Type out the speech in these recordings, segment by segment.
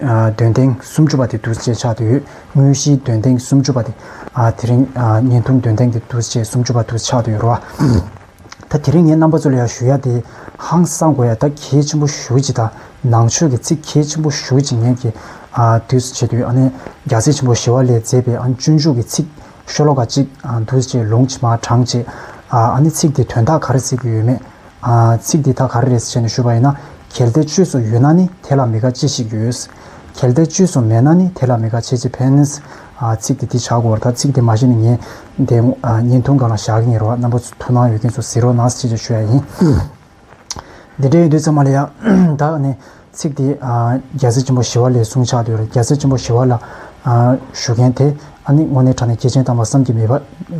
འདོན་ཐེངས་སུམ་ཅུ་པ་དེ་དུས་བཅས་ཆགས་ཡོད། དངོས་གཞིའི་འདོན་ཐེངས་སུམ་ཅུ་པ་དེ། དེ་རིང། བརྙན་ཐུང་འདོན་ཐེངས་དེ་དུས་བཅས་སུམ་ཅུ་པ་དུས་ཆགས་ཡོད་རོ། ད་དེ་རིང་ངས་རྣམ་པ་ཚོ་ལ་ཡང་ཞུ་ཡ་དེ། ཧང་སང་དགོས་ཡ་ད་གལ་ཆེན་པོ་ཞུ་ཅིག་དང་ནང་ཆོས་ཀྱི་ཚིག་གལ་ཆེན་པོ་ཞུ་ཅིག་ངས་ཀྱི། དུས་བཅས་དུས་ཨ་ནེ་རྒྱ་སེ་ཆེན་པོ་ཞི་བ་ལས་མཛད་པའི་ཨ་སྤྱོད་འཇུག་གི་ཚིག། ཤོ་ལོ་ཀ་གཅིག་དུས་བཅས་ལུང་ཕྱི་མ་གྲངས་བཅས། ཨ་ནེ་ཚིག་དེ་དོན་དག་ག་རེ་བརྩི་དགོས་ཡོད་མེད། ཚིག་འདི་དག་ག་རེ་རེད་ཟེར་ནས་ཞུས་པ་ཡིན་ན། གལ་ཏེ་བཅོས་སོ་ཡོད་ན་ནི་དེ་ལ་མི་དགའ་ཅི་ཞིག་ཡོད། གལ་ཏེ་བཅོས་སོ་མེད་ན་ནི་དེ་ལ་མི་དགའ་བྱེད་ཅི་ཕན། ཚིག་འདི་འདི་བྱ་དགོས་པར་ཐལ། ཚིག་འདི་མ་བཤད་ན་ངའི་དེ་བརྙན་ཐུང་གང་ལ་བཞག་གི་ངེས་རེད་བ། རྣམ་པ་ཚོ་ཐུགས་སྣང་ཡོད་མཁན་ཚོ་གཟིགས་རོགས་གནང་ཟེར་ཅེས་ཞུ་ཡ་ཡིན། འདི་འདྲའི་ཡོད་དུས་ཚང་མ་ལ་ཡག། ད་ནི་ཚིག་དེས། རྒྱལ་སྲས་ཆེན་པོ་ཞི་བ་ལའི་གསུང་ཕྱག་དུས་རེར་རྒྱལ་སྲས་ཆེན་པོ་ཞི་བ་ལ་ཞུ་མཁན་དེ་ཨ་ནི་དངོས་གནས་དྲ་ནས་སྐྱེས་ཆེན་བལྟམས་པ་བསམ་གྱིས་མི་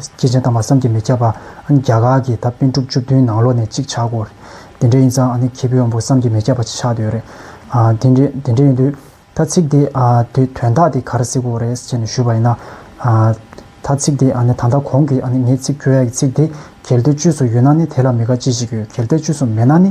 སྐྱེས་ཆེན་བལྟམས་པ་བསམ་གྱིས་མི་ཁྱབ་པ་ཨ་ནི་རྒྱ་གར་གྱི་ད་པཎ་དྲུག་བཅུ་བདུན་ནང་ལོགས་ནས་གཅིག་ཆགས་སྐོར་རེད་དེ་འདྲ་ཡིན་ཙང་ཨ་ནི་མཁས་པའི་དབང་པོ་བསམ་གྱིས་མི་ཁྱབ་པ་ཆགས་དུས་རེད། དེ་འདྲ་ཡིན་དུས་ད་ཚིག་དེ་དུས་དོན་དག་དེ་ག་རེ་སྲིད་སྐོར་རེ་བྱས་ནས་ཞུས་པ་ཡིན་ན། ད་ཚིག་དེ་ཨ་ནི་ད་ལྟ་གོང་གི་ཨ་ནི་ངས་ཚིག་ཁྱོད་ཡག་གི་ཚིག་དེ་གལ་ཏེ་བཅོས་སུ་ཡོད་ན་ནི་དེ་ལ་མི་དགའ་ཅི་ཞིག་ཡོད་གལ་ཏེ་བཅོས་སུ་མེད་ན་ནི་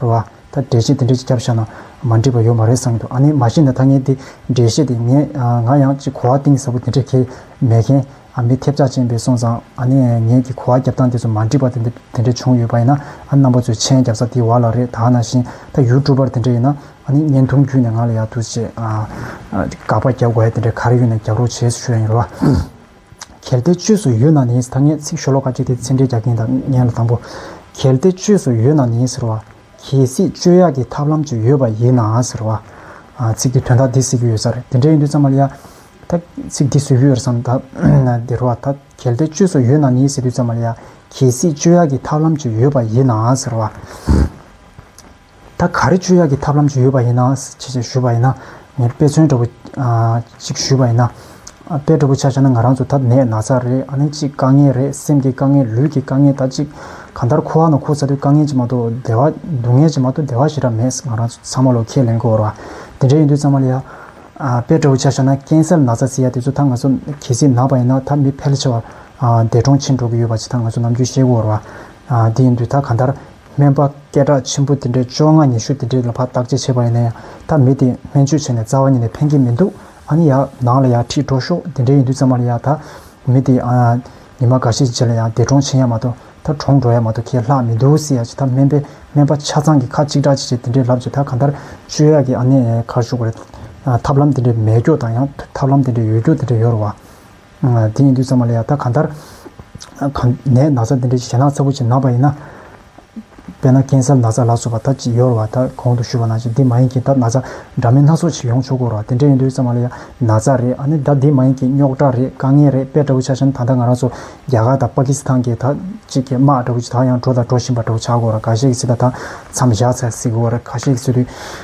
རེད་བ། ད་འགྲེལ་བཤད་དེ་འདྲས་ཀྱི་རྒྱབ་ཤ་ན་མ་འགྲིག་པ་ཡོད་མ་རེད་བསམ་གྱི་འདུག་ཨ་ནི་མ་ཤེས་ན་ད་ངས་འདི་འགྲེལ་བཤད་དེ་ངས་ང་ཡང་ཅིག་གོ་བ་གཏིང་ཟབ་པོ་དེ་འདྲས་ཁེལ་མེད་མཁན་ཨ་མི་ཐེབས་ཆག་ཅན་པས་སོང་ཙང་ཨ་ནི་ངས་ཀྱི་གོ་བ་རྒྱབ་སྟངས་དེ་ཚོ་མ་འགྲིག་པ་དེ་འདྲས་བྱུང་ཡོད་པ་ཡིན་ན་ཨ་རྣམ་པ་ཚོས་མཆན་རྒྱབ་ས་དེ་བ་ལ་རེད་ད་ན་བཞིན་ད་ཡུལ་གྲུ་པར་དེ་འདྲས་ཡིན་ན་ཨ་ནི་བརྙན་ཐུང་བརྒྱུད་ནས་ང་ལ་ཡག་ཐུགས་ཆེ་དགག་པ་རྒྱབ་དགོས་ཡ་དེ་འདྲས་ག་རེ་ཡོད་ན་རྒྱབ་རོགས་བྱེད་ཞུ་ཡ་ཡིན་རེད་བ། གལ་ཏེ་བཅོས་སུ་ཡོད་ན་ནི་ཟེར་ད་ངས་ཚིག་ཤོ་ལོ་ཀ་གཅིག་དེ་ཚིག་འགྲེལ་རྒྱག་གིན་ད་ཉན་ལ་དང་པོ། གལ་ཏེ་བཅོས་སུ་ཡོད་ན་ནི་ཟེར་བ། གལ་སྲིད་བཅོས་ཡག་གི་ཐབས་ལམ་ཅིག་ཡོད་པ་ཡིན་ན་ཟེར་བ། ཚིག་གི་དོན་དག་འདི་ཟེར་གྱི་ཡོད་ས་རེད་དེ་འདྲ་ཡིན་དུས་ཙམ་མ་ལ་ཡ། ད་ཚིག་འདི་བཟོས་ཀྱི་ཡོད་རེད་བསམ། དེ་རུ་བ། ད་གལ་ཏེ་བཅོས་སུ་ཡོད་ན་ནི་ཟེར་དུས་ཙམ་མ་ལ་ཡ། གལ་སྲིད་བཅོས་ཡག་གི་ཐབས་ལམ་ཅིག་ཡོད་པ་ཡིན་ན་ཟེར་བ། ད་ག་རེ་བཅོས་ཡག་གི་ཐབས་ལམ་ཅིག་ཡོད་པ་ཡིན་ན་ཅིག་ཅིག་ཞུས་པ་ཡིན་ན་ངས་དཔེ་མཚོན་འདྲ་པོ་ཅིག་ཞུས་པ་ཡིན་ན། དཔེ་འདྲ་པོ་ཆགས་ཆགས་ན་ང་རང་ཚོ་ད་ནད་ན་ཚ་རེད་ཨ་ནི་ཅིག་དཀའ་ངལ་རེད་སེམས་ཀྱི་དཀའ་ངལ་ལུས་ཀྱི་དཀའ་ངལ་ད་ཅིག་གང་ལྟར་ཁུ་བ་ན་ཁུ་ཚ་དུས་དཀའ་ངལ་ཅིག་མ་གཏོགས་བདེ་བ་སྡུག་བསྔལ་ཅིག་མ་གཏོགས་བདེ་བ་ཞེ་དྲག་མེད་ང་རང་ཚང་མ་ལོ་ཁས་ལེན་དགོས་ར་དེ་འདྲ་ཡིན་དུས་ཙང་མ་ལ་ཡ། དཔེ་འདྲ་པོ་ཆགས་ཆགས་ན་ཀན་སལ་ན་ཚ་ཚིག་ཡ་དེ་ཚོ་ད་ང་ཚོ་གལ་སྲིད་ན་པ་ཡིན་ན་ད་མི་ཕལ་ཆེ་བ་འདས་གྲོངས་ཕྱིན་འགྲོ་གི་ཡོད་པ་ཅིག་ད་ང་ཚོ་ནམ་རྒྱུན་ཤེས་དགོས་ར་དེ་ཡིན་དུས་ད་གང་ལྟར། སྨན་པ་སྐད་གྲགས་ཆེན་པོ་དེ་འདྲས་བཅོ་ལྔ་ཉི་ཤུ་དེ་འདྲས་ལ་ཕར་བརྟག་དཔྱད་བྱས་པ་ཡིན་ན་ཡང་ད་མི་དེས་སྨན་བཅོས་བྱས་ནས་རྩ་བ་ཉིད་ནས་ཕན་གྱི་མི་འདུག་ཨ་ནི་ཡག་ནང་ལ་ཡག་ཁྲིད་འགྲོ་ཤོག་དེ་འདྲས་ཡིན་དུས་ཚང་མ་ལ་ཡག་ད་མི་དེས་ཨ་ཉི་མ་འགའ་ཤས་རྗེས་ལ་ཡང་འདས་གྲོངས་ཕྱིན་ཡ་མ་གཏོགས་ད་གྲོངས་འགྲོ་ཡ་མ་གཏོགས་ཁྱེད་ལྷག་མི་འདུག་སེ་ཡ་ཅི་ད་སྨན་པས་སྨན་པ་ཆ་ཚང་གི་ཁ་གཅིག་གྲགས་གཅིག་བྱས་དེ་འདྲས་ལབ་རྗེས་ད་གང་ལྟར་བཅོས་ཡག་གི་ཨ་ནི་གར་ཞུགས་པ་རེད་ཐབས་ལམ་དེ་འདྲས་མེད་སྐྱོ་དང་ཡང་ཐབས་ལམ་དེ་འདྲས་ཡོད་སྐྱོ་དེ་འདྲས་ཡོད་རུང་བ། དེ་ཡིན་དུས་ཚང་མ་ལ་ཡང་ད་གང་ལྟར། ནད་ན་ཚ་འདི་འདྲའི་ཞེད་སྣང་ཚ་བུ་ཅིག་ན་པ་ཡིན་ན། དཔེར་ན་ཀན་སར་ན་ཚ་ལ་སོགས་པ་ད་ཅིག་ཡོར་བ་ད་གོང་དུ་ཞུས་པ་ན་ཅིག་འདི་མ་ཡིན་གྱི་ད་ན་ཚ་འདྲ་མིན་སྣ་ཚོགས་ཅིག་ཡོང་ཆོག་གོ་རོ་དེ་འདྲ་ཡིན་དུས་ཚང་མ་ལ་ཡང་ན་ཚ་རེད་ཨ་ནི་ད་འདི་མ་ཡིན་གྱི་རྙོག་དྲ་རེད་དཀའ་ངལ་རེད་དཔེ་འདྲ་བུ་ཆགས་ཤིང་ད་ལྟ་ང་རང་ཚོ་རྒྱ་གར་དང་པ་ཀི་སི་ཐང་གི་ད་ཅིག་གི་དམག་འདྲ་བུ་ཅིག་ད་ཡང་འགྲོ་དང་འགྲོ་བཞིན་པ་འདྲ་བུ་ཆགས་གོ་རོ་ག་ཤེད་ཀྱི་ཚེ་ད་ད་མཚམས་བཞག་ཚར་སྲིད་གོ་རེ་ག་ཤེད་ཀྱི་ཚེ་དུས།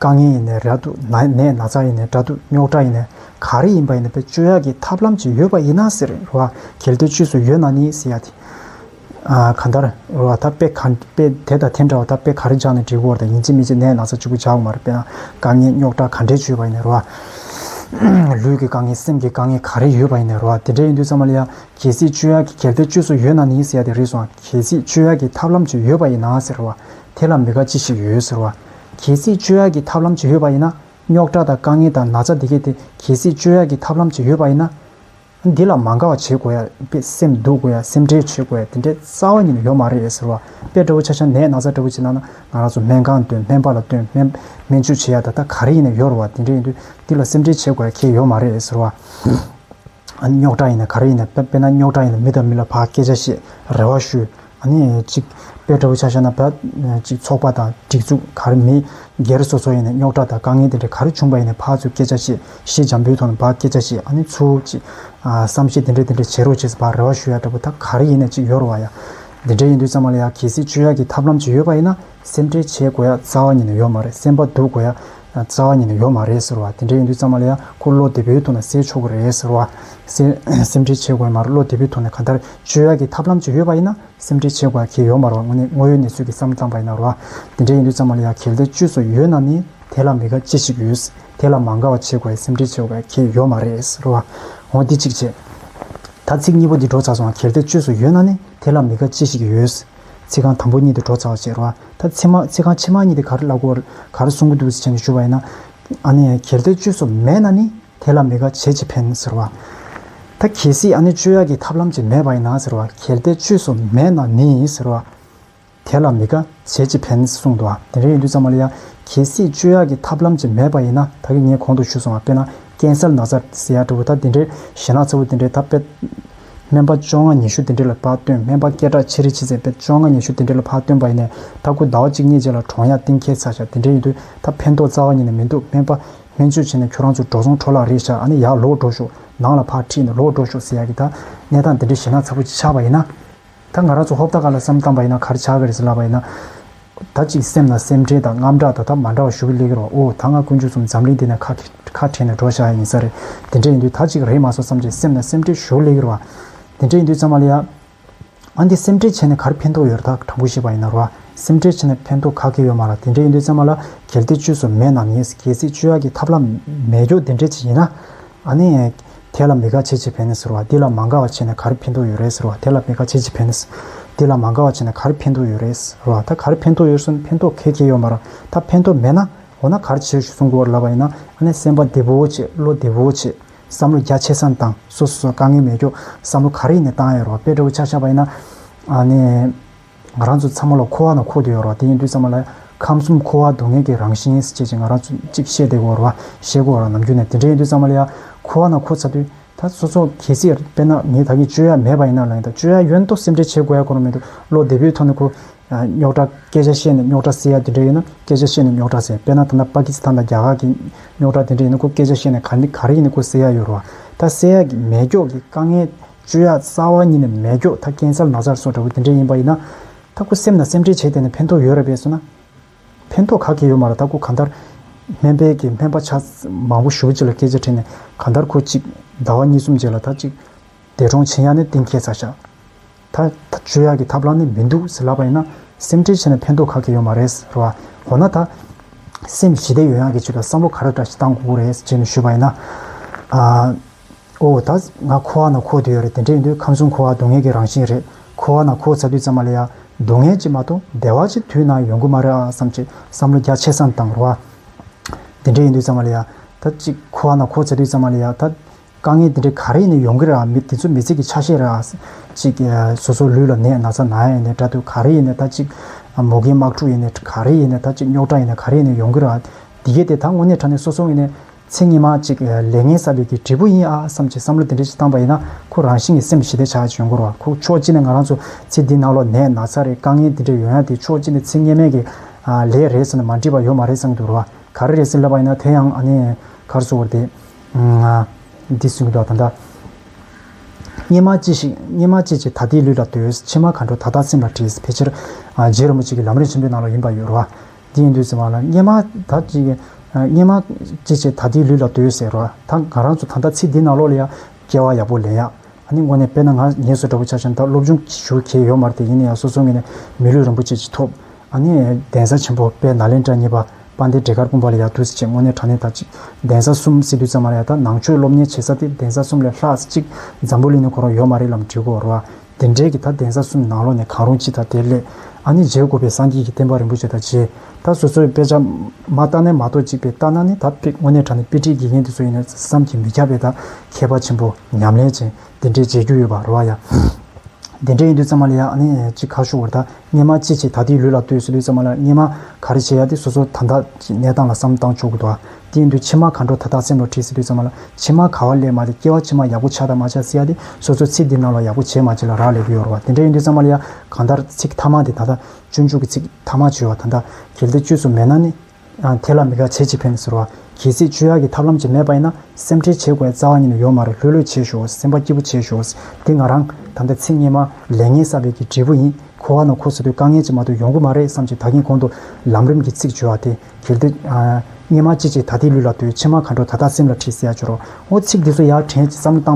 རྐང་གཉིས་ཡིན་ནས་ར་འདུག་ན་ནས་ན་ཚ་ཡིན་ནས་དགྲ་འདུག་རྙོག་དྲ་ཡིན་ནས་ག་རེ་ཡིན་པ་ཡིན་ན་བེད་སྤྱོད་ཡག་གི་ཐབས་ལམ་ཅིག་ཡོད་པ་ཡིན་ན་ཟེར་རེད་རེད་བ་གལ་ཏེ་ཆུས་སུ་ཡོད་ན་ནི་ཟེར་ཡག་གི་ག་འདར་རེད་བ་ད་དཔེ་ག་དཔེ་དེ་དང་དེ་འདྲ་བ་ད་དཔེ་ག་རེ་སྦྱང་ནས་འབྲི་གོ་རེད་ད་ཡིན་ཅི་མིན་ཅི་ནས་ན་ཚ་གཅིག་པུ་བྱ་འོང་མ་རེད་དཔེ་ན་རྐང་གཉིས་རྙོག་དྲ་ག་འདྲའི་ཆུས་པ་ཡིན་ནས་རེད་བ། ལུས་ཀྱི་རྐང་གཉིས་སེམས་ཀྱི་རྐང་གཉིས་ག་རེ་ཡོད་པ་ཡིན་ནས་རེད་བ་དེ་འདྲ་ཡིན་དུས་ཚང་མ་ལ་ཡང་གལ་སྲིད་སྤྱོད་ཡག་གི་གལ་ཏེ་ཆུས་སུ་ཡོད་ན་ནི་ཟེར་ཡག་དེ་རེད་སོང་གལ་སྲིད་སྤྱོད་ཡག་གི་ཐབས་ལམ་ཅིག་ཡོད་པ་ཡིན་ན་ཟེར་རེད་བ་དེ་ལ་མི་དགའ་ཅི་ཞིག་ཡོད་ཟེར་བ། གལ་སྲིད་བཅོས་ཡག་གི་ཐབས་ལམ་བྱེད་ཡོད་པ་ཡིན་ན། རྙོག་དྲ་དང་དཀའ་ངལ་དང་ན་ཚ་དེ་གས་དེ་གལ་སྲིད་བཅོས་ཡག་གི་ཐབས་ལམ་བྱེད་ཡོད་པ་ཡིན་ན། འདི་ལ་མ་འགའ་བ་བྱེད་དགོས་ཡ་དཔེ་སེམས་སྡུག་དགོས་ཡ་སེམས་ཁྲལ་བྱེད་དགོས་ཡ་དེ་འདྲའི་རྩ་བ་ཉིད་ལ་ཡོད་མ་རེད་ཟེར་བ་དཔེ་འདྲ་བོ་ཆ་ཆ་ནས་ན་ཚ་འདྲ་བོ་བྱེད་ན་ན་ང་རང་ཚོ་སྨན་ཁང་སྟོན་སྨན་པ་ལ་སྟོན་སྨན་སྨན་བཅོས་བྱེད་ཡ་ད་ལྟ་ག་རེ་ཡིན་ན་ཡོད་རེད་བ་དེ་འདྲས་ཡིན་དུས་འདི་ལ་སེམས་ཁྲལ་བྱེད་དགོས་ཡ་ཁྱེད་ཡོད་མ་རེད་ཟེར་བ། རྙོག་དྲ་ཡིན་ན་ག་རེ་ཡིན་ན་དཔེ་ན་རྙོག་དྲ་ཡིན་ན་མི་དང་མི་ལ་བག་སྐད་ཆ་བཤད་རེ་བ་ཞུ། གཉིས་གཅིག་དཔེ་ལྟ་བུ་ཆ་ཤས་ན་ད་ཅིག་ཚོགས་པ་དང་སྒྲིག་འཛུགས་ག་རེ་མི་སྒེར་སོ་སོ་ཡིན་ནས་རྙོག་དྲ་དང་དཀའ་ངལ་དེ་འདྲ་ག་རེ་བྱུང་བ་ཡིན་ནས་ཕར་ཚུར་སྐད་ཆ་བཤད་གཞི་འཇམ་པོའི་ཐོག་ནས་བག་སྐད་ཆ་བཤད་ཨ་ནི་ཚུར་ཅིག་བསམ་ཤེས་དེ་འདྲ་དེ་འདྲ་བྱེད་རོགས་བྱས་བག་རེ་བ་ཞུ་ཡ་འདྲ་པོ་ད་ག་རེ་ཡིན་ནས་ཅིག་ཡོ་རོ་བ་ཡ། དེ་འདྲ་ཡིན་དུས་ཙམ་མ་ལ་ཡ་གལ་སྲིད་བཅོས་ཡ་གི་ཐབས་ལམ་ཅིག་ཡོད་པ་ཡིན་ན་སེམས་ཁྲལ་བྱེད་དགོས་ཡ་རྩ་བ་ཉིད་ནས་ཡོད་མ་རེད་སེམས་པ་སྡུག་དགོས་ཡ་རྩ་བ་ཉིད་ནས་ཡོད་མ་རེད་ཟེར་བ་དེ་འདྲ་ཡིན་དུས་ཙང་མ་ལ་ཡ་ཁོ་བློ་བདེ་པོའི་ཐོག་ནས་སེལ་ཆོག་གི་རེད་ཟེར་བ། སེམས་ཁྲལ་བྱེད་དགོས་ཡ་མ་རེད་བློ་བདེ་པོའི་ཐོག་ནས་ག་འདར་བཅོས་ཡ་གི་ཐབས་ལམ་ཅིག་ཡོད་པ་ཡིན་ན་སེམས་ཁྲལ་བྱེད་དགོས་ཡ་གལ་ཡོད་མ་རེད་བ་དངོས་གནས་དངོས་ཡོད་གནས་ཚུལ་གྱི་བསམ་བཏང་པ་ཡིན་ན་རེད་བ། དེ་འདྲ་ཡིན་དུས་ཙང་མ་ལ་ཡ་གལ་འདར་བཅོས་སོགས་ཡོད་ན་ནི་དེ་ལ་མི་དགའ་ཅི་ཞིག་ཡོད། དེ་ལ་མ་དགའ་བ་བྱེད་དགོས་ཡ་སེམས་ཁྲལ་བྱེད་དགོས་ཡ་གལ་ཡོད་མ་རེད་ཟེར་བ། འོ་འདི་གཅིག་བྱས། ད་ཚིག་གཉིས་པོ་འདི་སྒྲོག་ཚར་སོང་བ་གལ་འདར་བཅོས་སོགས་ཡོད་ན་ནི་དེ་ལ་མི་དགའ་ཅི་ཞིག་ཡོད། ཚིག་རྐང་དང་པོ་གཉིས་དེ་བྲོ་ཚ་བ་ཟེར་བ། ད་ཚིག་མ་ཚིག་རྐང་ཕྱི་མ་གཉིས་དེ་གར་བཀླག་གོ། གར་གསུང་གི་འདུག་ཟེར་བྱས་ནས་ཞུ་བ་ཡིན་ན། ཨ་ནི་གལ་ཏེ་བཅོས་སོགས་མེད་ན་ནི་དེ་ལ་མི་དགའ་བྱེད་ཅི་ཕན་ཟེར་བ། ད་གལ་སྲིད་ཨ་ནི་བཅོས་ཡག་གི་ཐབས་ལམ་ཅིག་མེད་པ་ཡིན་ན་ཟེར་བ། གལ་ཏེ་བཅོས་སོགས་མེད་ན་ནི་ཟེར་བ། དེ་ལ་མི་དགའ་བྱེད་ཅི་ཕན་གསུངས་འདུག་དེ་འདྲ་ཡིན་དུས་ཙམ་མ་ལ་ཡ། གལ་སྲིད་བཅོས་ཡག་གི་ཐབས་ལམ་ཅིག་མེད་པ་ཡིན་ན་ད་གི་ངས་གོང་དུ་ཞུ་སོང་བ་དཔེར་ན་ཀན་སལ་ནགས་ཚལ་ཟེར་ཡག་འདྲ་བོ་ད་དེ་འདྲའི་ཞེ་ནགས་ཚ་བོ་དེ་འདྲའི་ད་དཔེ། སྨན་པ་བཅོ་ལྔ་ཉི་ཤུ་དེ་འདྲི་ལ་ཕག་སྟོན་སྨན་པ་སྐད་གྲགས་ཆེ་རི་ཆི་ཚེ་དཔལ་བཅོ་ལྔ་ཉི་ཤུ་དེ་འདྲི་ལ་ཕག་སྟོན་པ་ཡིན་ནས་ད་སྐུ་ཟླ་བ་གཅིག་གཉིས་རྗེས་ལ་གྲོང་གཡག་སྟེང་ཁྱེད་ཚ་ཞག་དེ་འདྲེ་ཡིན་དུས་ད་ཕན་ཐོག་རྩ་བ་ཉིད་ནས་མི་འདུག་སྨན་པ། སྨན་བཅོས་བྱེད་ནས་ཁྱོད་རང་ཚོ་འབྲོག་ཚོང་ཁྲོ་ལག་རེད་ཞག་ཨ་ནི་ཡག་ལོག་འགྲོ་ཤོག་ནང་ལ་ཕག་ཁྲིད་ནས་ལོག་འགྲོ་ཤོག་ཟེར་ཡག་གི་ད་གནས་སྟངས་དེ་འདྲི་ཞེ་ན་ཚ་པོ་ཅིག་ཆགས་པ་ཡིན་ན། ད་ང་རང་ཚོ་ཧོབ་ད་ག་ལ་བསམ་གཏམ་པ་ཡིན་ན་གར་ཆགས་གི་རེད་ཟེར་ལབ་པ་ཡིན་ན། ད་ཅིག་སེམས་ན་སེམས་ཁྲལ་དང་རྔམ་སྐྲག་ད་ད་མ་འདྲ་བ་ཞུ་གི་སླེ་གི་རོགས་ཨོ་ད་ང་དཀོན་མཆོག་གསུམ་འཛམ་གླིང་འདི་ནས་ཁ་ཁ་བྲལ་ནས་འགྲོ་བཞག་ཡ་ཡིན་ས་རེད་དེ་འདྲ་ཡིན་དུས་ད་ཅིག་རེད་མ་སོ་བསམ་ཅིག་སེམས་ན་སེམས་ཁྲལ་ཞུ་གི་སླེ་གི་རོགས་ཨ་དེ་འདྲ་ཡིན་དུས་ཙང་མ་ལ་ཡ། ཨ་འདི་སེམས་ཁྲལ་བྱས་ནས་གར་ཕན་ཐོག་ཡོད་རེད་ད་དྲང་པོ་ཤེས་པ་ཡིན་ན་རོགས་ཨ་སེམས་ཁྲལ་བྱས་ནས་ཕན་ཐོག་ག་གི་ཡོད་མ་ར་དེ་འདྲ་ཡིན་དུས་ཙང་མ་ལ་གལ་ཏེ་བཅོས་སུ་མེད་ནམ་ཡིན་གལ་སྲིད་བཅོས་ཡག་གི་ཐབས་ལམ་མེད་ཀྱོག་དེ་འདྲ་ཅིག་ཡིན་ན། ཨ་ནེ། དེ་ལ་མི་དགའ་བྱེད་ཅི་ཕན་ནི་ཟེར་བ་འདི་ལ་མ་དགའ་བ་བྱས་ནས་གར་ཕན་ཐོགས་ཡོད་རེད་ཟེར་བ་དེ་ལ་མི་དགའ་བྱེད་ཅི་ཕན་ནི། འདི་ལ་མ་དགའ་བ་བྱས་ནས་གར་ཕན་ཐོགས་ཡོད་རེད་ཟེར་བ་ད་གར་ཕན་ཐོགས་ཡོད་སོང་ཕན་ཐོགས་གལ་ཆེ་ཡོད་མ་རང་ད་ཕན་ཐོགས་མེད་ན་འོ་ན་གར་བྱོས་ཞུ་གསུང་གོ་ལབ་པ་ཡིན་ན་ཨ་ནེ་སེམས་པ་བདེ་བོའོ་བྱེད་བློ་བདེ་བོའོ་བྱེད་བསམ་བློ་རྒྱ་ཆེ་སའང་བཏང་སོ་སོ་སོར་དཀའ་ངལ་མེད་རྒྱོ་བསམ་བློ་ག་རེ་ཡིན་ནས་བཏང་ཡ་རོ་བ་དཔེ་དྲ་བོ་ཆག་ཆག་པ་ཡིན་ན་ཨ་ནེ། ང་རང་ཚོ་ཚང་མ་ལ་འཁོར་བ་དང་འཁོར་དུ་ཡོད་རོགས་དེ་ཡིན་དུས་ཚང་མ་ལ་ཁམས་གསུམ་འཁོར་བ་སྡུག་བསྔལ་གྱི་རང་བཞིན་ཟེར་ཅེས་ཅིག་ང་རང་ཚོ་ཅིག་བཤད་བསྡད་དགོས་རོགས་བཤད་དགོས་རོགས་ནམ་རྒྱུན་ནས་དེ་འདྲ་ཡིན་དུས་ཚང་མ་ལ་ཡང་འཁོར་བ་དང་འཁོར་ཚར་དུས་ད་སོ་སོ་གལ་སྲིད་དཔེར་ན་ངས་ད་གིན་སྤྱོད་ཡག་མེད་པ་ཡིན་ན་ལ་ཡིན་ད་སྤྱོད་ཡག་ཡོད་མདོག་སེམས་ཁྲལ་བྱེད་དགོས་ཡ་གོ་རོགས་མི་འདུག་བློ་བདེ་པོའི་ཐོག་ནས་ཁོ་རྙོག་དྲ་སྐད་ཆ་བཤད་ནས་རྙོག་དྲ་སེལ་ཡ་དེ་འདྲ་ཡིན་ན་སྐད་ཆ་བཤད་ནས་རྙོག་དྲ་སེལ་དཔེར་ན་ད་ལྟ་པ་ཀི་སི་ཐན་དང་རྒྱ་གར་གྱི་རྙོག་དྲ་དེ་འདྲ་ཡིན་ན་ཁོ་སྐད་ཆ་བཤད་ནས་ག་ག་རེ་ཡིན་ན་ཁོ་སེལ་ཡ་ཡོད་རོགས་ད་སེལ་ཡག་གི་མེད་སྐྱོག་གི་དཀའ་ངལ་སྤྱོད་ཡག་རྩ་བ་ཉིད་ནས་མེད་སྐྱོག་ཐ་ཀན་སར་ན་ཚར་སོགས་འདྲ་བོ་དེ་འདྲས་ཡིན་པ་ཡིན་ན། ད་ཁུ་སེམས་ན་སེམས་ཁྲལ་བྱས་བསྡད་ནས་ཕན་ཐོག་ཡོད་རེད་བས་སོ་ན། ཕན་ཐོག་ག་གེ་ཡོད་མ་རེད་ད་ཁུ་གང་ལྟར། སྨན་དཔལ་གྱི་སྨན་པ་ཆ་མང་བོ་ཞུ་བ་གཅིག་ལ་སྐད་ཆ་དྲིས་ནས་གང་ལྟར་ཁུ་གཅིག་ཟླ་བ་གཉིས་གསུམ་རྗེས་ལ་ད་གཅིག། འདས་གྲོངས་བྱིན་ཡག་ནི་གཏིང་སྐྱེས་ཚར་ཤག། ད་སྤྱོད་ཡག་གི་ཐབས་ལམ་ནི་མི་འདུག་ཟེར་ལབ་པ་ཡིན་ན་སེམས་ཁྲལ་བྱས་ནས་ཕན་ཐོག་ག་གེ་ཡོད་མ་རེད་ཟེར་བ། འོ་ན་ད། སེམས་ཞི་བདེ་ཡོད་ཡག་གི་ཆེད་དུ་བསམ་བློ་ག་རེ་འདྲ་ཞིག་བཏང་དགོས་རེད་ཅེས་ནས་ཞུས་པ་ཡིན་ན། ཨོ། ད་ང་ཁོ་བ་ན་ཁོ་དུས་ཡོད་རེད་དེ་འདྲའི་ཡིན་དུས་ཁམས་གསུམ་ཁོ་བ་སྡུག་བསྔལ་གྱི་རང་བཞིན་རེད་ཁོ་བ་ན་ཁོ་ཚ་དུས་ཙམ་མ་ལ་ཡ། སྡུག་བསྔལ་གྱིས་མ་གཏོགས་བདེ་བ་ཅིག་དུས་ན་ཡོང་གི་མ་རེད་ཨ་བསམ་གྱི་བསམ་བློ་རྒྱ་ཆེ་སའམ་དང་རོ་ཨ། དེ་འདྲའི་ཡིན་དུས་ཙམ་མ་ལ་ཡ། ད་ཅིག་ཁོ་བ་ན་ཁོ་ཚ་དུས་ཙམ་མ་ལ་ཡ་ད། དཀའ་ངལ་དེ་འདྲའི་ག་རེ་ཡིན་ནའི་ཡོང་གི་རེད་ཨ་མི་དེ་ཚོ་མི་ཚེ་གྱི་ཆ་ཤས་རེད་ཨ། ཅིག་སོ་སོ་ལུས་ལ་ནད་ན་ཚ་ན་ཡིན་ནའི་དགྲ་འདུལ་ག་རེ་ཡིན་ནའི་ད་ཅིག། མོ་རྒན་དམག་འཁྲུག་ཡིན་ནའི་ག་རེ་ཡིན་ནའི་ད་ཅིག་རྙོག་དྲ་ཡིན་ནའི་ག་རེ་ཡིན་ནའི་ཡོང་གི་རེད་ཨ། དེ་གས་དེ་ད་དངོས་གནས་དྲ་ནས་སོ་སོ་ངོས་ནས་ཚེ་སྙེ་མ་གཅིག་ལས་ངན་ས་ལུས་ཀྱི་འབྲས་བུ་ཡིན་ཨ་བསམ་གྱི་བསམ་བློ་དེ་འདྲའི་ཅིག་བཏང་པ་ཡིན་ན་ཁོ་རང་བཞིན་གྱི་སེམས་ཞི་བདེ་ཆགས་ཅིག་ཡོང་དགོས་ར་བ་ཁོ་ཕྱོགས་གཅིག་ནས་ང་རང་ཚོ་ཚེ་འདི་ནང་ལོ་ནས་ན་ཚ་རེད་དཀའ་ངལ་འདི་འདྲ་ཡོད་ཡ་དེ་ཕྱོགས་གཅིག་ནས་ཚེ་སྙེ་མས་ཀྱི་ལས་རེད་ཟེར་ན་མ་འགྲིག་པ་ཡོད་མ་རེད་བསམ་གྱི་འདུག་ར་བ་ག་རེ་རེད་ཟེར་ལབ་པ་ཡིན་ན་དེ་ཡང་ཨ་ནེ་གར་སོ་བར་དེའདི་གསུང་གི་འདུག་ད་ལྟ་སྙེ་མ་ཅི་ཞིག་སྙེ་མ་ཅི་ཅིག་ད་དེའི་ལུས་ལ་ལྟོས་ཕྱི་མ་ག་འགྲོ་ད་ལྟ་སེམས་ལ་བྲིས་ཕལ་ཆེར་རྗེ་རིན་པོ་ཆེ་གི་ལམ་རིན་ཆེན་པོའི་ནང་ལོ་ཡིན་པ་ཡོད་ར་བ། དེའི་མདོས་ཟེར་བ་ལ་སྙེ་མ་ད་ཅི། སྙེ་མ། ཅི་བྱེད་ད་དེའི་ལུས་ལ་མདོས་ཟེར་རོ། ད་ང་རང་ཚོ་ད་ལྟ་ཚེ་འདི་ནང་ལོག་ལ་ཡ། སྐྱེ་བ་ཡག་པོ་ལེན་ཡ། ཨ་ནི་དངོས་གནས་དཔེར་ན་ང་ངེད་བཟོ་འདྲ་པོ་ཆགས་ཤིང་ད་སློབ་སྦྱོང་ཞུ་གལ་ཡོད་མར་དེ་ཡིན་ན་ཡང་སོ་སོ་ངེད་ནས་མི་ལུས་རིན་པོ་ཆེ་ཅིག་ཐོབ། ཨ་ནི། གདན་ས་ཆེན་པོ་དཔལ་ནཱ་ལེནྡྲ་གཉིས་པ་དཔའ་འདི་འབྲས་དཀར་སྤུངས་པ་ལ་ཡར་འདུག་ཟེར་ཆེད་དངོས་གནས་དྲང་གནས་ད་ཅི། གདན་ས་གསུམ་སི་ཏུ་ཙམ་མ་ཡ་ད་ནང་ཆོས་སློབ་གཉེར་བྱེད་ས་དེ་གདན་ས་གསུམ་ལས་ལྷག་ཅིག་འཛམ་བུ་གླིང་ནས་གོ་རོགས་ཡོད་མ་རེད་ལམ་འབྲི་གོ་རོ། དེ་འབྲེལ་གྱི་ད་གདན་ས་གསུམ་ནང་ལོགས་ནས་གང་རུང་སྤྱི་དང་དེ་ལས་ཨ་ནི་རྗེའི་དགོས་པའི་སངས་རྒྱས་ཀྱི་བསྟན་པ་རིན་པོ་ཆེ་དང་རྗེ་ད་སོ་སོའི་དཔེ་ཆ། མ་རྟགས་ནས་མ་རྟོགས་གཅིག་པའི་རྟགས་སྣང་ནི་ད་དཔེ་དངོས་གནས་དྲ་ནས་དཔེ་ཁྲིད་དགེ་རྒན་དེ་ཚོ་ཡིན་ན་བསམ་གྱིས་མི་ཁྱབ་པའི་ད་མཁས་པ་ཆེན་པོ་ཉམས་ལེན་ཅན་དེ་འདྲའི་མཇལ་རྒྱུ་ཡོད་པ་རེ་བ་ཡ། དེ་འདྲའི་ཡིན་དུས་ཙམ་མ་ལ་ཡ་ཨ་ནི་ཅི་ཁ་ཤོ་བོར་ད་སྙན་མ་ཅི་བྱེད་ད་དེའི་ལུས་ལ་ལྟོས་སུ་དུས་ཙམ་མ་ལ་སྙན་མ་ག་རེ་བྱེད་ཡ་དེ་སོ་སོ་ད་ད་ཀྱི་གནས་སྟངས་ལ་བསམ་བཏང་ཆོག་གི་འདུག་ཨ། སྟེང་དུ་ཕྱེ་མ་ག་འགྲོ་ད་དག་སེམས་ལ་བྲིས་སྲིད་པའི་ཚོད་མ་ལ་ཕྱེ་མ་ག་བ་ལས་མ་དེ་སྐྱེ་བ་ཕྱི་མ་ཡག་པོ་ཆགས་དང་མ་ཆགས་སྲིད་ཡ་དེ་སོ་སོའི་ཚིག་འདི་རྣམས་ལ་ཡག་པོ་བྱས་མ་བྱས་ལ་རག་ལས་པོ་ཡོད་རོ་བ་དེ་འདྲ་ཡིན་དུས་ཚང་མ་ལ་ཡ་གང་ལྟར་ཚིག་ཐ་མ་དེ་ད་ལྟ་སྤྱོད་འཇུག་གི་ཚིག་ཐ་མ་བྱོས་བ་ད་ལྟ་གལ་ཏེ་བཅོས་སུ་མེད་ན་ནི། དེ་ལ་མི་དགའ་བྱེད་ཅི་ཕན་ཟེར་བ། གལ་སྲིད་བཅོས་ཡ་གི་ཐབས་ལམ་ཅིག་མེད་པ་ཡིན་ན་སེམས་ཁྲལ་བྱེད་དགོས་རྩ་བ་ཉིད་ནས་ཡོད་མ་རེད་ལྷོད་ལྷོད་བྱེད་ཞོག་སེམས་པ་སྐྱིད་པོ་བྱེད་ཞོག་འདི་ང་རང་ད་ལྟ་ཚིག་སྙན་མ་ལས་ངན་བསགས་པའི་གི་འབྲས་བུ་ཡིན་ཁོ་བ་ན་ཁོ་ཟེར་དུས་དཀའ་ངལ་ཅིག་མ་གཏོགས་ཡོང་གི་མ་རེད་བསམ་གྱི་ད་གིན་གོང་དུ་ལམ་རིམ་གྱི་ཚིག་བྱོས་བ་དེ། གལ་ཏེ། སྙེ་མ་ཅི་བྱེད་ད་ལྟའི་ལུས་ལ་ལྟོས། ཕྱི་མ་མཁའ་འགྲོ་ད་ལྟ་སེམས་ལ་ཁྲིད་བསད་སྦྱོར་རོ། ཨོ་ཚིག་འདི་ཚོ་ཡར་དྲན་གྱི་བསམ་བློ་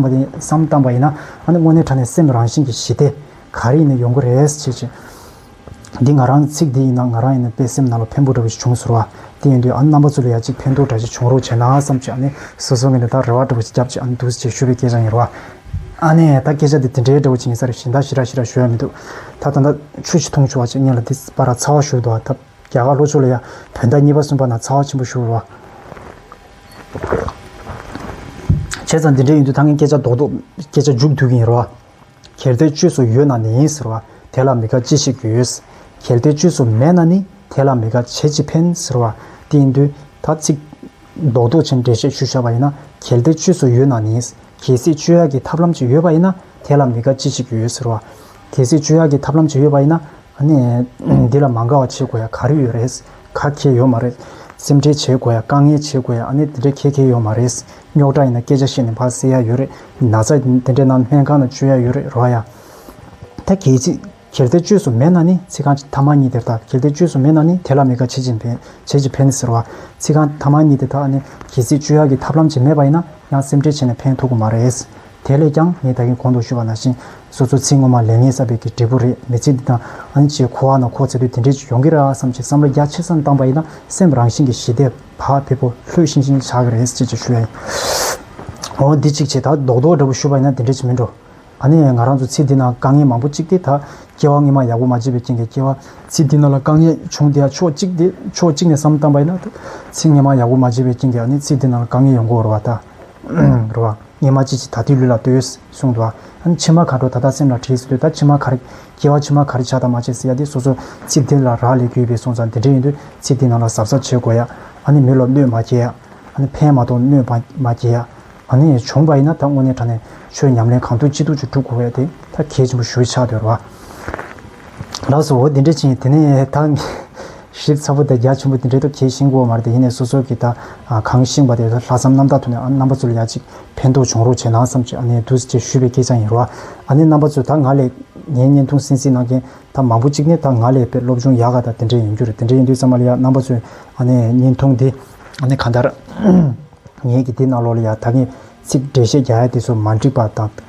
བཏང་བ་ཡིན་ན། ཨ་ནི་དངོས་གནས་དྲ་ནས་སེམས་རང་བཞིན་གྱི་ཞི་བདེ་ག་རེ་ཡིན་ནི་ཡོང་གི་རེད་ཅེས་བྱས། འདི་ང་རང་གི་ཚིག་འདི་ཡིན་ན་ང་རང་ཡིན་ནི་དཔེ་སེམས་ནང་ལ་ཕན་པོ་འདྲ་བོ་ཞིག་བྱུང་ཟུར་བ་དེ་ཡིན་དུས་ཨ་ནི་རྣམ་པ་ཚོ་ལ་ཡ་གཅིག་ཕན་ཐོག་འདྲ་ཞིག་བྱུང་རོགས་བྱས་ན་བསམ་གྱི་ཨ་ནི་སོ་སོ་ངས་འདི་ལྟར་རེ་བ་འདྲ་བོ་ཞིག་བརྒྱབ་ཀྱི་ཨ་ནི་འདུག་ཅེས་ཞུ་བའི་སྐད་ཆ་ཡིན་རོ། ཨ་ནི་ད་སྐད་ཆ་འདི་དེ་འདྲའི་འདྲ་བོ་ཅིག་ཡིན་ས་རེད་བཞིན་ད་ཤི་ར་ཤི་ར་ཞོལ་ཡ་མི་འདུག་ད་ད་ད་ཆུ་ཞིག་འཐུང་བྱུང་བ་ཅིག་སྙེ་ལ་འདི་སྤར་ར་ཚ་བ་ཞུགས་འདུག་ཨ་ད། རྒྱ་གར་ལྷོ་ཕྱོགས་ལ་ཡང་བོད་ཟླ་གཉིས་པ་གསུམ་པ་ན་ཚ་བ་ཆེན་པོ་བཞུར་བ། བྱས་ཙང་འདི་འདྲའི་ཡུན་དུ་ད་ངས་སྐད་ཆ་རྡོག་རྡོག་སྐད་ཆ་མཇུག་བསྡུ་གིན་ཡིན་རོ། གལ་ཏེ་བཅོས་སུ་ཡོད་ན་ནི་ཡིན་ཟེར་བ་དེ་ལ་མི་དགའ་ཅི་བྱེད་ཡོད། གལ་ཏེ་བཅོས་སུ་མེད་ན་ནི་དེ་ལ་མི་དགའ་བྱེད་ཅི་ཕན་ཟེར་བ་དེ་ཡིན་དུས་ད་ཚིག། རྡོག་རྡོག་ཆེན་འགྲེལ་བཤད་ཞུ་བཞག་པ་ཡིན་ན་གལ་ཏེ་བཅོས་སུ་ཡོད་ན་ནི། གལ་སྲིད་བཅོས་ཡག་གི་ཐབས་ལམ་ཅིག་ཡོད་པ་ཡིན་ན་དེ་ལ་མི་དགའ་ཅི་བྱེད་ཀྱི་ཡོད་ཟེར་བ། གལ་སྲིད་བཅོས་ཡག་གི་ཐབས་ལམ་ཅིག་ཡོད་པ་ཡིན་ན་གནས། འདི་ལ་མ་དགའ་བ་བྱེད་དགོས་ཡ་ག་རེ་ཡོད་རེད། ག་ཁྱེད་ཡོད་མ་རེད། སེམས་ཁྲལ་བྱེད་དགོས་ཡ་དཀའ་ངལ་བྱེད་དགོས་ཡ་གནས་འདི་འདྲ་ཁྱེད་ཁྱེད་ཡོད་མ་རེད། རྙོག་དྲ་ཡིན་ན་སྐད་ཆ་བཤད་ནས་ཕར་བསལ་ཡ་ཡོད་རེད། ན་ཚ་འདི་འདྲ་ན་སྨན་ཁང་ན་བཅོས་ཡ་ཡོད་རེད་རོགས་ཡ། ད་གྱེས་ཚིག། གྱེར་ཏེ་བཅོས་སུ་མེད་ན་ནི་ཚིག་རྐང་ཐ་མ་གཉིས་དེར་དག་གྱེར་ཏེ་བཅོས་སུ་མེད་ན་ནི་དེ་ལ་མི་དགའ་བྱེད་ཅིང་བེད་བྱེད་ཅིང་ཕན་ཟེར་བ། ཚིག་རྐང་ཐ་མ་གཉིས་དེ་དག་ནི་གྱེས་ཚིག་བཅོས་ཡ་གྱི་ཐབས་ལམ་ཅིག་མེད་པ་ཡིན་ན་ཡང་སེམས་ཁྲལ་བྱས་ནས་ཕན་ཐུག་གི་མ་རེད། དེ་ལས་ཀྱང་ངས་ད་གིན་གོང་དུ་ཞུས་པ་ན་བཞིན་སོ་སོའི་ཚིག་ངོ་མ་ལས་ངས་བསབ་པའི་གི་འབྲས་བུ་རེད་མི་ཚིག་འདི་དང་ཨན་ཅེ་ཁོ་ཨ་ན་ཁོ་ཚེ་དུས་དེ་འདྲའི་ཅིག་ཡོང་གི་ར་བསམ་ཅིག་བསམ་བློ་རྒྱ་ཆེ་སར་བཏང་པ་ཡིན་ན་སེམས་རང་བཞིན་གི་ཞི་བདེ་བག་ཕེབས་པོ་ལྷོད་ཤིང་ཤིང་ཆགས་གི་རེད་ཅེས་ཅིག་ཞུས་ཨེ་འོང་འདི་ཅིག་བྱས་ད་རྡོག་རྡོག་འདྲ་པོ་ཞུས་པ་ཡིན་ན་དེ་འདྲའི་ཅིག་མིན་འགྲོ་ཨ་ནི་ང་རང་ཚོ་ཚིག་འདི་ན་དཀའ་ངལ་མང་པོ་ཅིག་སྟེ་ད་སྐྱེ་བ་སྔིན་མ་ཡག་པོ་མ་བརྗེས་པའི་རྐྱེན་གྱི་སྐྱེ་བ། ཚིག་འདི་ན་ལ་དཀའ་ངལ་བྱུང་དེ་ཡ་ཕྱོགས་གཅིག་དེ་ཕྱོགས་གཅིག་ནས་བསམ་བཏང་པ་ཡིན་ན་ད་ཚིག་སྔིན་མ་ཡག་པོ་མ་བརྗེས་པའི་རྐྱེན་གྱི་ཨ་ནི་ཚིག་འདི་ན་ལ་དཀའ་ངལ་ཡོང་གི་འོར་བ་ད་རོ་བ། ངེད་མ་ཅིག་ཅིག་ད་དུས་ལུས་ལ་ལྟོས། གསུངས་འདུག་ཨ། མཆི་མ་ག་དྲོ་ད་ལྟ་སེམས་ལ་བྲིས་ཟེར་དུས་ད་མཆི་མ་ག་རེ། སྐྱེ་བ་མཆི་མ་ག་རེ་བྱ་དང་མ་བྱས་ཟེར་ཡ་དེ་སོ་སོ་ཚིག་དེ་ལ་རག་ལས་དགོས་པའི་སོང་ཙང་འདི་འདྲ་ཡིན་དུས་ཚིག་དེ་ནང་ལ་གཟབ་གཟབ་བྱེད་དགོས་ཡ། ཨ་ནི་མི་ལོ་གནོད་མ་སྐྱེལ་ཡ། ཨ་ནི་ཕན་མ་གཏོགས་གནོད་པ་མ་སྐྱེལ་ཡ། ཨ་ནི་བྱུང་བ་ཡིན་ན་ད་དངོས་གནས་དྲ་ནས་ཆོས་ཉམས་ལེན་གང་ཐུབ་ཅི་ཐུབ་ཅིག་བསྒྲུབ་དགོས་པ་ཡ་དེ་ད་གལ་ཆེན་པོ་ཞུ་ཆགས་འདོད་རོ། ལགས་སོ། འོ་དེ་འདྲ་ཕྱིན། དེ་ནས་ད། ཞིབ་ཚགས་པོ་དེ་རྒྱ་ཆེན་པོ་དེ་འདྲ་ཐོབ་ཁྱེད་ཤིང་ཀོ་མ་རེད་དེ་ཡིན་ནས་སོ་སོ་གི་ད། གང་ཤིང་བ་དེ་ལྷག་བསམ་རྣམ་དག་ཐུག་ནས་རྣམ་པ་ཚོ་ལ་ཡ་གཅིག་ཕན་ཐོག་བྱུང་རོགས་བྱས་ན་བསམ་ཅི་ཨ་ནེ་འདུག་ཅེས་ཞུས་པའི་སྐད་ཆ་ཡིན་རོ། ཨ་ནེ་རྣམ་པ་ཚོས་ད་ང་ལས། ངའི་བརྙན་ཐུང་གསན་གཟིགས་གནང་མཁན་ད་མང་པོ་གཅིག་ནི་ད་ང་ལས་དཔེ་སློབ་སྦྱོང་ཡག་ག་ད་དེ་འདྲ་ཡིན་རྒྱུ་རེད་དེ་འདྲ་ཡིན་དུས་ཙམ་མ་ལ་ཡ་རྣམ་པ་ཚོས་ཨ་ནེ་བརྙན་ཐུང་འདི། ཨ་ནེ་གང་ལྟར། ངས་ཀྱི་དེ་གནང་ལོག་ལ་ཡ་ད་ངས་ཚིག་འགྲེལ་བཤད་རྒྱག་ཡ་དེ་ཚོ་མ་འགྲིག་པ་དང།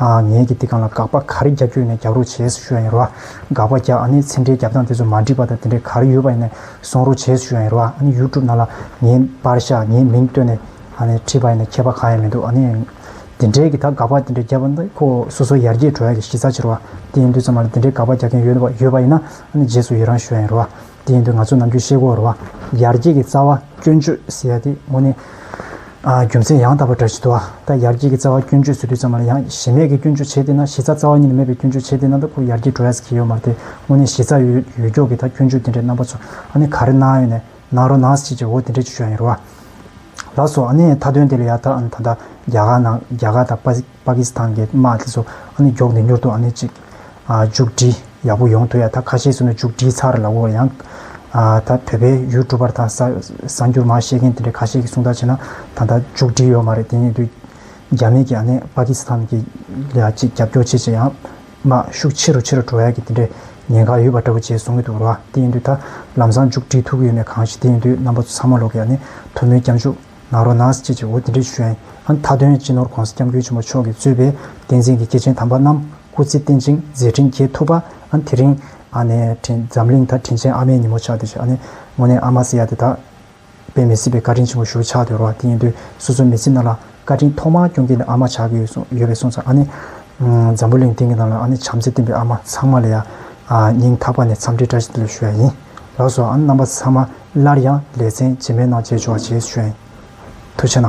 ངེད་ཀྱིས་འདི་གང་ལ་དགག་པ་ག་རེ་རྒྱག་རྒྱུ་ཡིན་ན་རྒྱག་རོགས་བྱེས་སུ་ཞུ་ཡ་ཡིན་རོགས་ཨ། དགག་པ་རྒྱག་ཨ་ནི་ཚེ་འདྲའི་རྒྱབ་སྟངས་དེ་ཚོ་མ་འགྲིག་པ་དང་དེ་འདྲའི་ག་རེ་ཡོད་པ་ཡིན་ན་གསུང་རོགས་བྱེས་སུ་ཞུ་ཡ་ཡིན་རོགས་ཨ་ནི་ཡུ་ཀྲུབ་ནང་ལ་ངའི་པར་ཤ་ངའི་མིང་བཏོན་ནས་ཨ་ནི་བྲིས་པ་ཡིན་ན་ཁྱད་པ་གང་ཡང་མི་འདུག་ཨ་ནི། འདི་འདྲའི་གི་ད་དགག་པ་དེ་འདྲ་རྒྱབ་པ་འདི་ཁོ་སོ་སོ་ཡར་རྒྱས་འགྲོ་ཡ་གི་གཞི་རྩ་ཆེ་རོགས་ཨ་དེ་ཡིན་དུས་ཚང་མ་ལ་འདི་འདྲའི་དགག་པ་རྒྱག་མཁན་ཡོད་ཡོད་པ་ཡིན་ན་ཨ་ནི་རྗེས་སུ་ཡི་རང་ཞུ་ཡ་ཡིན་རོགས་ཨ། དེ་ཡིན་དུས་ང་ཚོས་ནམ་རྒྱུན་ཤེལ་སྒོར་བ། ཡར་རྒྱས་ཀྱི་རྩ་བ་སྐྱོན་བརྗོད་ཟེར་ཡ་དེ་དངོས་གནས་རྒྱུ་མཚན་ཡང་དག་པ་འདྲ་ཞིག་འདུག་ད་ཡར་རྒྱས་ཀྱི་རྩ་བ་སྐྱོན་བརྗོད་བཟོས་དུས་ཙམ་ལ་ཡང་གཞི་མེད་ཀྱི་སྐྱོན་བརྗོད་བྱས་དེ་ན་གཞི་རྩ་རྩ་བ་ཉིད་ནས་མེད་པའི་སྐྱོན་བརྗོད་བྱས་དེ་ན་ད་ཁོ་ཡར་རྒྱས་འགྲོ་ཡས་ཀྱི་ཡོད་མར་དེ་དངོས་གནས་གཞི་རྩ་ཡོད་ཡོད་མགྱོགས་ཀྱི་ད་སྐྱོན་བརྗོད་དེ་འདྲའི་རྣམ་པ་ཚོ་ཨ་ནི་ག་རེ་གནང་ཡོད་ནས་གནང་རོགས་གནང་ཞེས་ཀྱི་འོ་དེ་འདྲའི་ཆོས་ཡིན་རུང། ལགས་སོ་ཨ་ནི་མཐའ་དོན་དེ་ལ་ཡ་ད་ཨ་ནི་ད་ལྟ་རྒྱ་གར་ནང་རྒྱ་གར་དང་པ། པ་ཀི་སི་ཐན་གྱི་དམག་དེ་ཚོ་ཨ་ནི་མགྱོགས་ནས་མྱུར་དུ་ཨ་ནི་ཅིག་མཇུག་སྒྲིལ་ཡག་པོ་ཡོང་ཐུབ་ཡ་ད་ཁ་ཤས་སུ་ནི་མཇུག་སྒྲིལ་ཚར་ལ་འོ་ཡང། ད་བོད་པའི་ཡུལ་གྲུ་པར་དང་གསར་འགྱུར་མ་ཤེས་མཁན་དེ་འདྲས་ཁ་ཤས་ཀྱི་གསུང་ལྟར་བྱས་ན་ད་ལྟ་མཇུག་སྒྲིལ་ཡོད་མ་རེད་དེ་ནས་དུས་རྒྱ་མི་གྱིས་ཨ་ནི་པ་ཀི་སི་ཐན་གྱི་ལ་ཅིག་རྒྱབ་སྐྱོར་བྱེད་ཅེས་ཡང་དམག་ཤུགས་ཆེ་རུ་ཆེ་རུ་འགྲོ་ཡག་གི་དེ་འདྲས་ཉེན་ཁ་ཡོད་པ་འདྲ་བོ་བྱས་གསུང་གི་འདུག་ར་དེ་ཡིན་དུས་ད་ལམ་སང་མཇུག་སྒྲིལ་ཐུབ་ཀྱི་ཡོད་མེད་གང་ཞིག་དེ་ཡིན་དུས་རྣམ་པ་ཚོ་ཚང་མ་ལོག་གི་ཨ་ནི་དོལ་མོའི་སྐྱབས་འཇུག། ནཱ་རོ་ནཱས་ཁྱེད་ཀྱིས་འོ་དེ་འདྲའི་བྱོན། མཐའ་དོན་སྤྱི་ནོར་གོང་ས་སྐྱབས་མགོན་ཆེན་པོ་མཆོག་གིས་གཙོས་པའི་བསྟན་འཛིན་གྱི་སྐྱེས་ཆེན་དམ་པ་རྣམས་སྐུ་ཚེ་བརྟན་ཅིང་མཛད་འཕྲིན་རྒྱས་ཐུབ་པ། དེ་རིང། འཛམ་གླིང་མཐར་དྲིན་ཅན་ཨ་མའི་ཉིན་མོ་ཆགས་ཏེ། དངོས་གནས་ཨ་མ་སི་ཡ་དེ་དག་པས་མི་སྲིད་པའི་བཀའ་དྲིན་ཆེན་པོ་ཞུ་ཆགས་དུས་རོ་དེ་ཡིན་དུས་སོ་སོའི་མི་ཚེ་ནང་ལ་བཀའ་དྲིན་ཐོག་མར་སྐྱོང་མཁན་ནི་ཨ་མ་ཆགས་ཀྱི་ཡོད་པས་སོང་ཙང་ཨ་ནི། འཛམ་བུ་གླིང་སྟེང་གི་ནང་ལ་ཨ་ནི་བྱམས་བརྩེ་བརྟན་པའི་ཨ་མ་ཚང་མ་ལ་ཡང་སྙིང་ཐག་པ་ནས་འཚམས་འདྲི་བཀྲ་ཤིས་བདེ་ལེགས་ཞུ་ཡ་ཡིན། ལགས་སོ་ཨང་རྣམ་པ་ཚང་མ་སླར་ཡང་ལས་ཚན་རྗེས་མའི་ནང་བརྗེས་ཆོག་ཅེས་བྱོན། ཐུགས་ཆེ་ན།